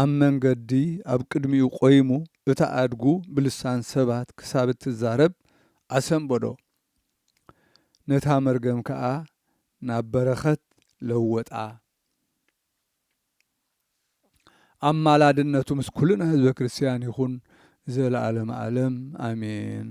ኣብ መንገዲ ኣብ ቅድሚኡ ቆይሙ እታ ኣድጉ ብልሳን ሰባት ክሳብ እትዛረብ ኣሰንበዶ። ነታ መርገም ከኣ ናብ በረኸት ለወጣ። ኣማላድነቱ ምስ ኩልና ህዝበ ክርስቲያን ይኹን ንዘለኣለመ ኣለም ኣሜን።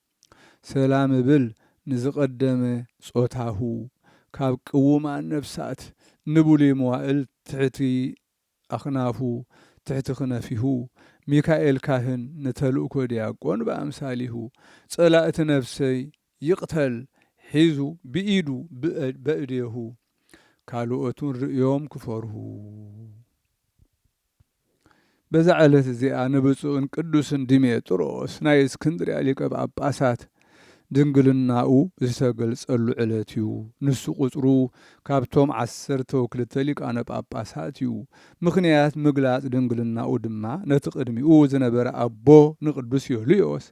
ሰላም እብል ንዝቐደመ ጾታሁ ካብ ቅውማን ነፍሳት ንብሉይ መዋእል ትሕቲ ኣኽናፉ ትሕቲ ክነፊሁ ሚካኤል ካህን ንተልእኮ ዲያቆን ብኣምሳሊሁ ጸላእቲ ነፍሰይ ይቕተል ሒዙ ብኢዱ በእዴሁ ካልኦቱን ርእዮም ክፈርሁ። በዛ ዕለት እዚኣ ንብፁዕን ቅዱስን ዲሜጥሮስ ናይ እስክንድርያ ሊቀ ጳጳሳት ድንግልናኡ ዝተገልጸሉ ዕለት እዩ። ንሱ ቁጽሩ ካብቶም ዓሰርተው ክልተ ሊቃነ ጳጳሳት እዩ። ምኽንያት ምግላጽ ድንግልናኡ ድማ ነቲ ቅድሚኡ ዝነበረ ኣቦ ንቅዱስ ዮልዮስ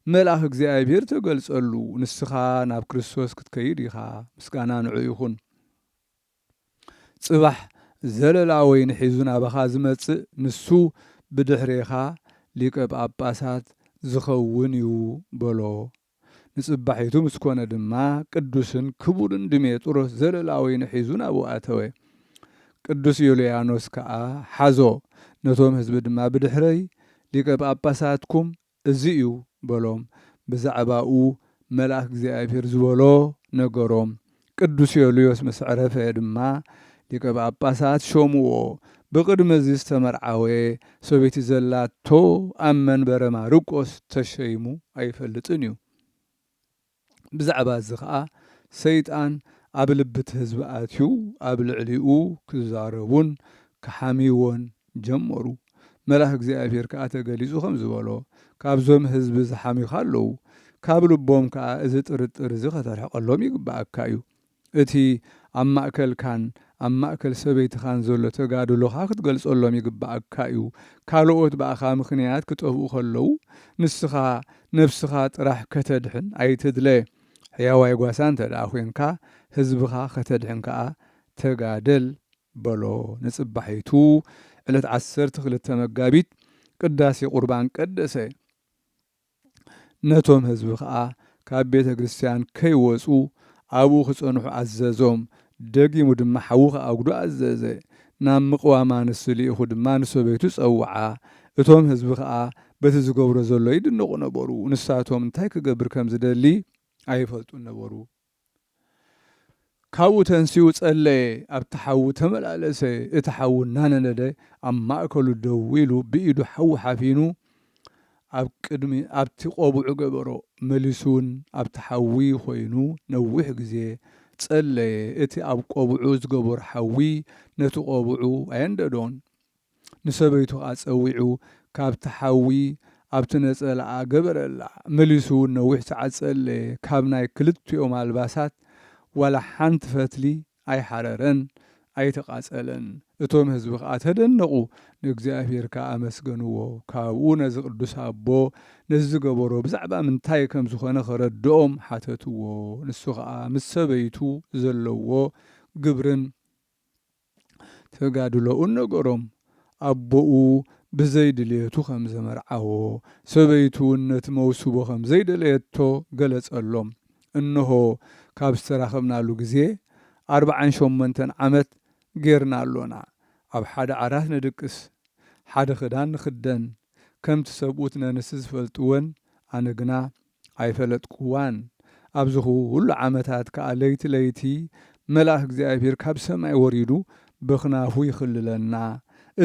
መልኣኽ እግዚኣብሔር ተገልጸሉ፣ ንስኻ ናብ ክርስቶስ ክትከይድ ኢኻ፣ ምስጋና ንዑ ይኹን። ጽባሕ ዘለላ ወይኒ ሒዙ ናባኻ ዝመጽእ ንሱ ብድሕሬኻ ሊቀ ጳጳሳት ዝኸውን እዩ በሎ። ንጽባሒቱ ምስ ኮነ ድማ ቅዱስን ክቡርን ድሜጥሮስ ዘለላ ወይኒ ሒዙ ናብኡ ኣተወ። ቅዱስ ዮልያኖስ ከኣ ሓዞ፣ ነቶም ሕዝቢ ድማ ብድሕረይ ሊቀ ጳጳሳትኩም እዚ እዩ በሎም ብዛዕባኡ መልኣክ እግዚኣብሔር ዝበሎ ነገሮም ቅዱስ ዮልዮስ ምስ ዐረፈ ድማ ሊቀ ጳጳሳት ሾምዎ ብቅድሚ እዚ ዝተመርዓወ ሰበይቲ ዘላቶ ኣብ መንበረ ማርቆስ ተሸይሙ ኣይፈልጥን እዩ። ብዛዕባ እዚ ኸኣ ሰይጣን ኣብ ልቢ እቲ ህዝቢ ኣትዩ ኣብ ልዕሊኡ ክዛረቡን ክሓምይዎን ጀመሩ። መልኣኽ እግዚኣብሄር ከኣ ተገሊጹ ከምዚ በሎ፣ ካብዞም ህዝቢ ዝሓምዩኻ ኣለዉ፣ ካብ ልቦም ከኣ እዚ ጥርጥር እዚ ከተርሕቀሎም ይግብኣካ እዩ። እቲ ኣብ ማእከልካን ኣብ ማእከል ሰበይትኻን ዘሎ ተጋድሎኻ ክትገልጸሎም ይግብኣካ'ዩ። ካልኦት ብኣኻ ምኽንያት ክጠፍኡ ከለዉ ንስኻ ነብስኻ ጥራሕ ከተድሕን ኣይትድለ። ሕያዋይ ጓሳ እንተድኣ ዄንካ ህዝብኻ ከተድሕን ከኣ ተጋደል በሎ። ንጽባሒቱ ዕለት ዓሰርተ ክልተ መጋቢት ቅዳሴ ቍርባን ቀደሰ። ነቶም ህዝቢ ከኣ ካብ ቤተ ክርስትያን ከይወጹ ኣብኡ ክጸንሑ ኣዘዞም፣ ደጊሙ ድማ ሓዊ ክኣጉዱ ኣዘዘ። ናብ ምቕዋም ኣንስቲ ልኢኹ ድማ ንሰበይቱ ጸውዓ። እቶም ህዝቢ ከኣ በቲ ዝገብሮ ዘሎ ይድነቑ ነበሩ፣ ንሳቶም እንታይ ክገብር ከም ዝደሊ ኣይፈልጡን ነበሩ። ካብኡ ተንሲኡ ጸለየ፣ ኣብቲ ሓዊ ተመላለሰ፣ እቲ ሓዊ እናነደደ ኣብ ማእከሉ ደው ኢሉ ብኢዱ ሓዊ ሓፊኑ ኣብ ቅድሚ ኣብቲ ቆብዑ ገበሮ፣ መሊሱውን ኣብቲ ሓዊ ኮይኑ ነዊሕ ግዜ ጸለየ፣ እቲ ኣብ ቆብዑ ዝገበሮ ሓዊ ነቲ ቆብዑ ኣየንደዶን። ንሰበይቱ ከኣ ጸዊዑ ካብቲ ሓዊ ኣብቲ ነጸላኣ ገበረላ። መሊሱ ውን ነዊሕ ሰዓት ጸለየ፣ ካብ ናይ ክልቲኦም ኣልባሳት ዋላ ሓንቲ ፈትሊ ኣይሓረረን፣ ኣይተቓጸለን። እቶም ህዝቢ ከኣ ተደነቑ፣ ንእግዚኣብሄር ከኣ ኣመስገንዎ። ካብኡ ነዚ ቅዱስ ኣቦ ነዚ ዝገበሮ ብዛዕባ ምንታይ ከም ዝኾነ ከረድኦም ሓተትዎ። ንሱ ከኣ ምስ ሰበይቱ ዘለዎ ግብርን፣ ተጋድሎኡን ነገሮም። ኣቦኡ ብዘይ ድልየቱ ከም ዘመርዓዎ፣ ሰበይቱውን ነቲ መውስቦ ከም ዘይደለየቶ ገለጸሎም። እንሆ ካብ ዝተራኸብናሉ ግዜ ኣርብዓን ሸሞንተን ዓመት ጌርና ኣሎና። ኣብ ሓደ ዓራት ንድቅስ፣ ሓደ ክዳን ንኽደን፣ ከምቲ ሰብኡት ነንስት ዝፈልጥወን፣ ኣነ ግና ኣይፈለጥኩዋን፣ ኣብዚ ዅሉ ዓመታት ከኣ ለይቲ ለይቲ መልኣኽ እግዚኣብሄር ካብ ሰማይ ወሪዱ ብኽናፉ ይኽልለና፣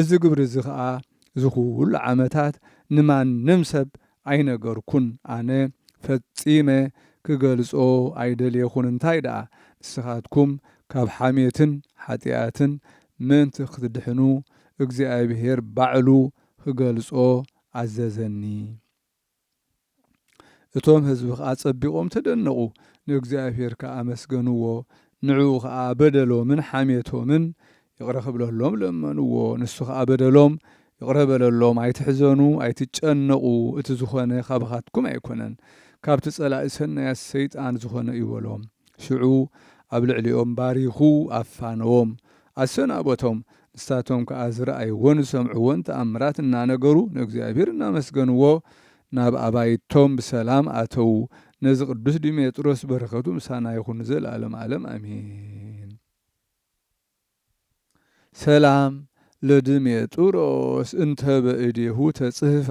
እዚ ግብሪ እዚ ኸኣ እዚ ዅሉ ዓመታት ንማንም ሰብ ኣይነገርኩን፣ ኣነ ፈጺመ ክገልጾ ኣይደልየኹን፣ እንታይ ደኣ ንስኻትኩም ካብ ሓሜትን ሓጢኣትን ምእንቲ ኽትድሕኑ እግዚኣብሄር ባዕሉ ኽገልጾ ኣዘዘኒ። እቶም ህዝቢ ከኣ ጸቢቖም ተደነቑ፣ ንእግዚኣብሄር ከኣ ኣመስገንዎ፣ ንዕኡ ከኣ በደሎምን ሓሜቶምን ይቕረ ክብለሎም ለመንዎ፣ ንሱ ከኣ በደሎም ይቕረ በለሎም፣ ኣይትሕዘኑ ኣይትጨነቑ፣ እቲ ዝኾነ ካባኻትኩም ኣይኮነን፣ ካብቲ ጸላኢ ሰናያት ሰይጣን ዝኾነ እዩ በሎም። ሽዑ ኣብ ልዕሊኦም ባሪኹ ኣፋነዎም፣ ኣሰናበቶም፣ ንሳቶም ከኣ ዝረኣይዎን ዝሰምዕዎን ተኣምራት እናነገሩ ንእግዚኣብሔር እናመስገንዎ ናብ ኣባይቶም ብሰላም ኣተዉ። ነዚ ቅዱስ ዲሜጥሮስ በረከቱ ምሳና ይኹን ንዘለዓለም ዓለም ኣሜን። ሰላም ለድሜጥሮስ እንተ በእዴሁ ተጽህፋ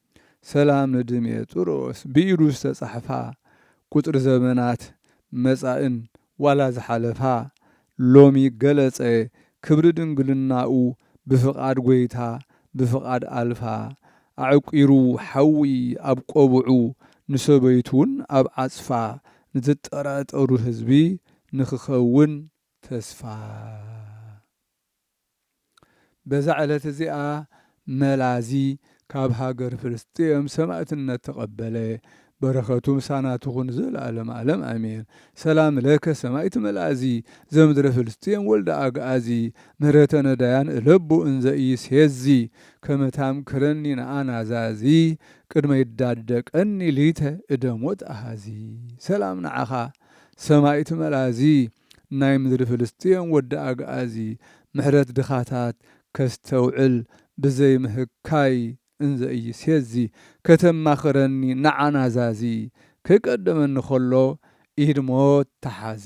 ሰላም ንድሜጥሮስ ብኢዱ ዝተጻሕፋ ቁጽሪ ዘመናት መጻእን ዋላ ዝሓለፋ ሎሚ ገለጸ ክብሪ ድንግልናኡ ብፍቓድ ጐይታ ብፍቓድ ኣልፋ ኣዕቊሩ ሓዊ ኣብ ቆብዑ ንሰበይቱውን ኣብ ዓጽፋ ንዝጠራጠሩ ህዝቢ ንኽኸውን ተስፋ በዛ ዕለት እዚኣ መላዚ ካብ ሃገር ፍልስጥኤም ሰማእትነት ተቐበለ። በረኸቱ ምሳና ትኹን ንዘለኣለም ኣለም ኣሜን። ሰላም ለከ ሰማኢት መላዚ ዘምድረ ፍልስጥኤም ወልደ ኣግኣዚ ምህረተ ነዳያን እለቡ እንዘ ኢይሴዚ ከመ ታምክረኒ ነኣ ናዛዚ ቅድመ ይዳደቀኒ ሊተ እደ ሞት ኣሃዚ ሰላም ንዓኻ ሰማኢት መላዚ ናይ ምድሪ ፍልስጥኤም ወዲ ኣግኣዚ ምሕረት ድኻታት ከስተውዕል ብዘይ ምህካይ እንዘ ኢይሴዚ ከተማኽረኒ ንዓ ናዛዚ ከይቀደመኒ ከሎ ኢድ ሞት ተሓዚ።